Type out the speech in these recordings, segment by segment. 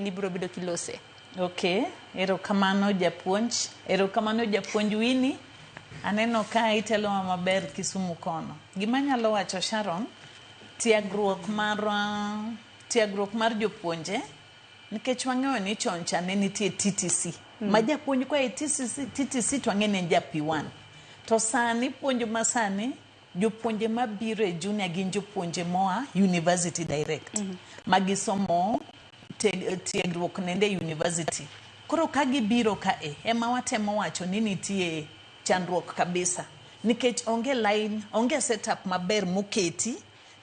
ni biro bedo kilose. Okay, erokamano japuonj. Erokamano japuonj Winnie. Aneno ka itelowa maber Kisumu kono. Gima anyalo wacho Sharon, tiegruok mar uh, tiegruok mar jopuonje nikech wang'eyo ni chon cha ne nitie TTC mm. ma japuonj kwa e TTC, TTC to ang'e ne en ja P1 to sani puonj ma sani Jopuonje mabiro e junior gin jopuonje moa university direct mm -hmm. magisomo tiegruok nende e university koro ka gibiro ka e ema watemo wacho ni nitie chandruok kabisa nikech onge line onge setup maber moketi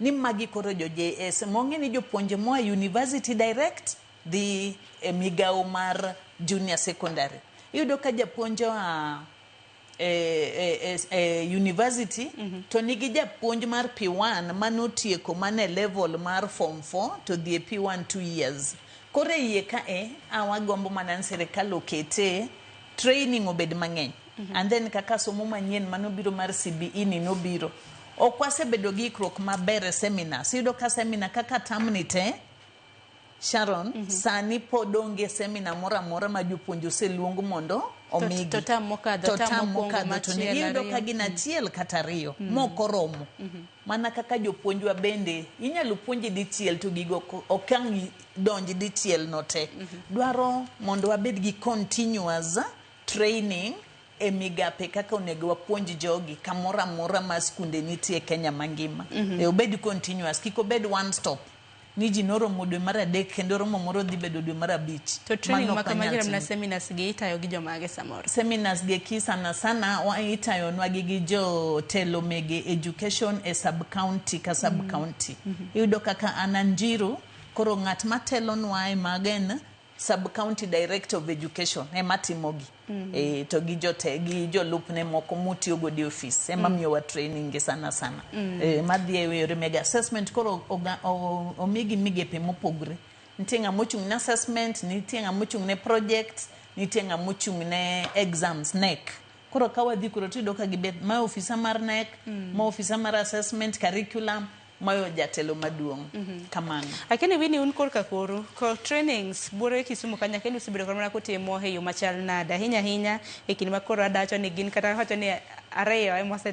ni magi koro jo JS mong'e ni jopuonje moa university direct dhi e migawo mar junior secondary iyudo ka japuonje wa e, e, e, e university mm -hmm. to nigi japuonj mar P1 manotieko mane level mar form 4 to dhi e P1 2 years koro e iye ka e awagombo mana ni sirikal okete training obed mang'eny mm -hmm. and then kaka somo manyien manobiro mar CBE ni nobiro ok wasebedo gi ikruok maber e seminars iyudo ka seminar kaka tamni te Sharon, mm -hmm. sani pod onge semina moro amora ma jopuonj oseluong mondo omigi to tam mokadho to tam mokadho to ne iyudo ka gin achiel mm. kata ariyo mm. moko romo mm -hmm. mana kaka jopuonjwa bende inyalo puonji dichiel to gigo okang donji dichiel no te mm -hmm. dwaro mondo wabed gi continuous training e migape kaka onego wapuonj jogi kamoro amora ma skunde nitie Kenya mangima mm -hmm. e obed continuous kik obed one stop ni ji noromo dwe mar adek kendo romo moro dhi bedo dwe mar abich. To training Mano ok makama wanyal jirem na timo. seminars gi itayo gi jomage samoro. seminars gi eki sana sana wa- itayonwagi gi jotelo mege education e sub county ka sub Mm. county Mhm. iyudo kaka an anjiru koro ng'at matelonwa e magen Sub County Director of Education ema timogi mm. e, to gi jote gi jolupne moko mutiyo godo e ofis ema mm. miyowa training gi sana sana mm. e, madhi e yore mega assessment koro omigi migepe mopogre nitie ng'ama ochung' ne assessment nitie ng'ama ochung' ne project nitie ng'ama ochung' ne exams nek koro ka wadhi kuro tiyudo ka gibet ma ofisa mar nek mm. ma ofisa mar assessment curriculum mayo jatelo maduong' kamano. Lakini wini un korka koru ko trainings buoro e Kisumu ka nyakeni usebedo kod mana kutimo e yo machal nade ahinya ahinya e kinde ma koro adacho ni gin kata wacho ni ariyo ema ose